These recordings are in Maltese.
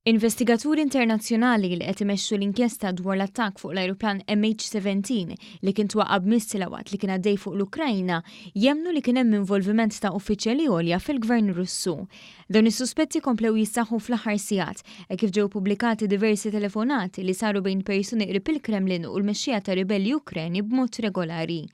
Investigaturi internazzjonali li qed imexxu l-inkjesta dwar l-attakk fuq l-ajruplan MH17 li kien twaqqa' b'missila waqt li kien għaddej fuq l-Ukrajna jemmnu li kien hemm involviment ta' uffiċjali għolja fil-Gvern Russu. Dawn is-suspetti komplew jissaħħu fl-aħħar sigħat hekk kif ġew pubblikati diversi telefonati li saru bejn persuni qrib il-Kremlin u l-mexxija ta' ribelli Ukreni b'mod regolari.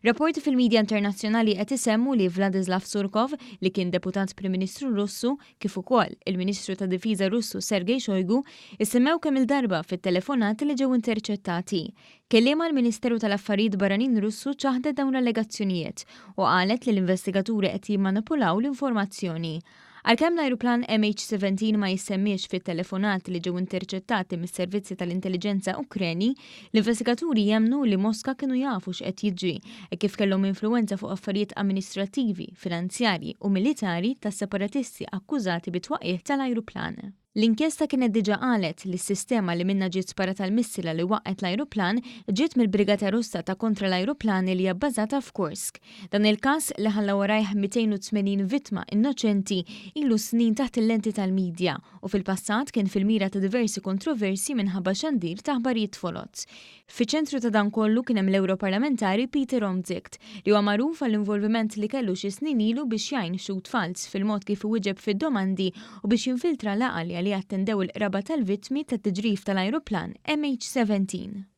Rapporti fil-midja internazzjonali qed isemmu li Vladislav Surkov, li kien Deputat Prim Ministru Russu, kif ukoll il-Ministru ta' Difiża Russu Sergei Shoigu, issemmew kemm il-darba fit-telefonati li ġew interċettati. Kelliema għall-Ministeru tal-Affarijiet Barranin Russu ċaħdet dawn l-allegazzjonijiet u qalet li l-investigaturi qed jimmanipulaw l-informazzjoni. Għalkemm l-ajruplan MH17 ma jissemmiex fit-telefonat li ġew interċettati mis-servizzi tal-intelliġenza Ukreni, l-investigaturi jemmnu li Moska kienu jafu x'qed jiġri hekk kif kellhom influwenza fuq affarijiet amministrattivi, finanzjarji u militari tas-separatisti akkużati bit-twaqqigħ tal-ajruplan. L-inkjesta kienet diġà qalet li s-sistema li minnha ġiet sparata l-missila li waqqgħet l-ajruplan ġiet mill-Brigata Russa ta' Kontra l-Ajruplani li hija bbażata f'Kursk. Dan il-każ, li ħalla warajh 280 vittma innoċenti, ilu snin taħt il-lenti tal-midja u fil-passat kien fil-mira ta' diversi kontroversji minħabba xandir ta' aħbarijiet foloz. Fiċ-ċentru ta' dan kollu kien hemm l-Ewroparlamentari Pieter Omtzigt, li huwa magħruf għall-involviment li kellu xi snin ilu biex jgħin Xhud Falz fil-mod kif iwieġeb fid-domandi u biex jinfiltra laqgħa li għaliha attendew il-qraba tal-vittmi tat-tiġrif tal-ajruplan MH17.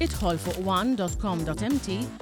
Idħol fuq one dot com dot mt